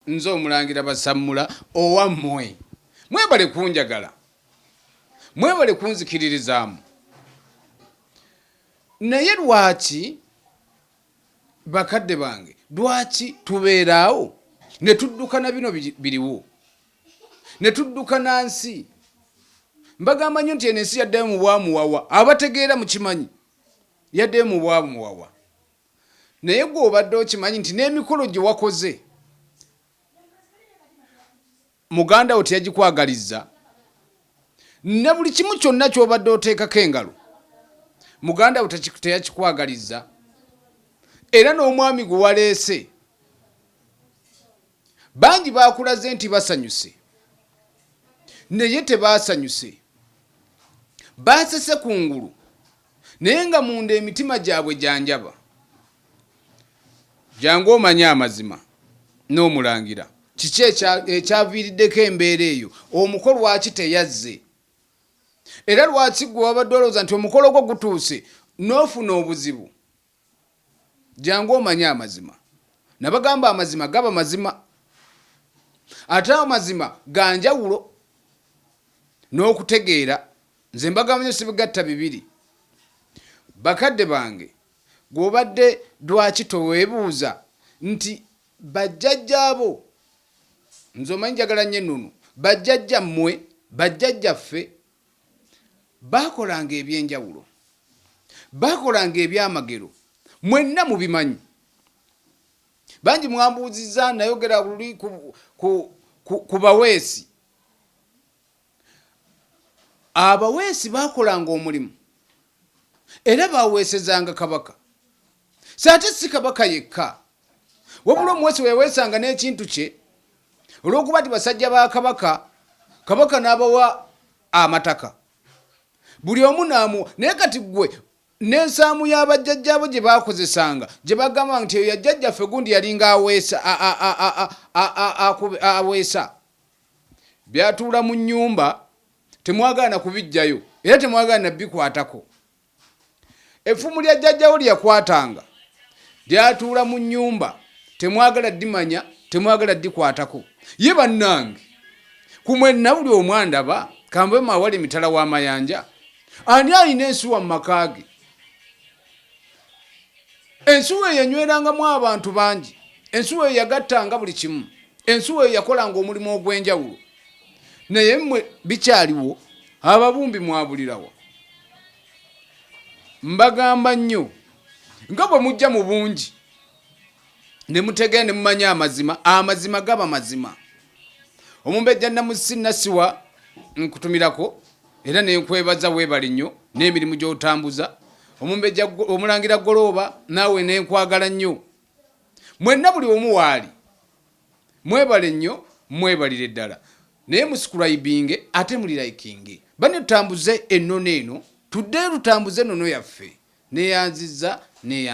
Nze omulangira Basammula owammwe. Mwebale kunjagala. Mwebale kunzikiririzaamu. Naye lwaki bakadde bange lwaki tubeeraawo ne tudduka na bino biriwo ne tudduka na nsi mbagamba nnyo nti eno ensi yaddayo mu bwamuwawa abategeera mukimanyi yaddayo mu bwamuwawa Naye gwe obadde okimanyi nti n'emikolo gye wakoze muganda wo teyagikwagalizza? Ne buli kimu kyonna ky'obadde oteekako engalo muganda wo teyakikwagalizza? Era n'omwami gwe waleese bangi baakulaze nti basanyuse naye tebaasanyuse, baasese ku ngulu. Naye nga munda emitima gyabwe gya njaba. Jangu omanye amazima. N'omulangira. Kiki ekya, ekyaviiriddeko embeera eyo? Omuko lwaki teyazze? Era lwaki ggwe wabadde olowooza nti omukolo gwo gutuuse, n'ofuna obuzibu? Jangu omanye amazima. Nabagamba amazima gaba mazima. Ate amazima ganjawulo n'okutegeera. Nze mbagamanyo sibigatta bibiri. Bakadde bange gwobadde dwaki towebuuza nti bajjajja bo nze omanyi njagala nyo ennunu bajjajja mwe bajjajja ffe Baakolanga eby'enjawulo. Baakolanga ebyamagero. Mwenna mubimanyi. Bangi mwambuuzizza, nayogera luli ku, ku, ku, ku baweesi. Abaweesi baakolanga omulimu. era baaweesezanga kabaka. So ate si kabaka yekka, wabula omuweesi bwe yaweesanga n'ekintu kye, olw'okuba nti basajja ba kabaka, kabaka n'abawa amataka buli omu n'amuwa. Naye kati ggwe n'ensaamu ya bajjajjaabo gye baakozesanga gye bagamba nti eyo yajjajjaffe gundi yalinga aweesa aweesa byatuula mu nnyumba temwagala na kubijjayo era temwagala na bikwatako. Effumu lya jjajjawo lye yakwatanga lyatuula mu nnyumba, temwagala dimanya, temwagala dikwatako. Ye bannange, ku mwenna buli omu andaba kambe mawala emitala w'amayanja, ani alina ensuwa mu maka ge? Ensuwa eyo enywerangamu abantu bangi, ensuwa eyo yagattanga buli kimu, ensuwa eyo yakolanga omulimu ogw'enjawulo. naye mwe bikyaliwo ababumbi mwabulirawo mbagamba nnyo nga bwe mujja mu bungi ne mutegee ne mumanya amazima amazima gaba mazima omumbejja namusi nasiwa nkutumirako era nenkwebaza webali nnyo n'emirimu gy'otambuza omumbejja omulangira golooba naawe nenkwagala nnyo mwenna buli omu waali Mwebale nnyo mwebalire ddala naye muscribinge ate muli likinge banno tutambuze ennono eno tuddeyo tutambuze ennono yaffe neyanziza neyanziza.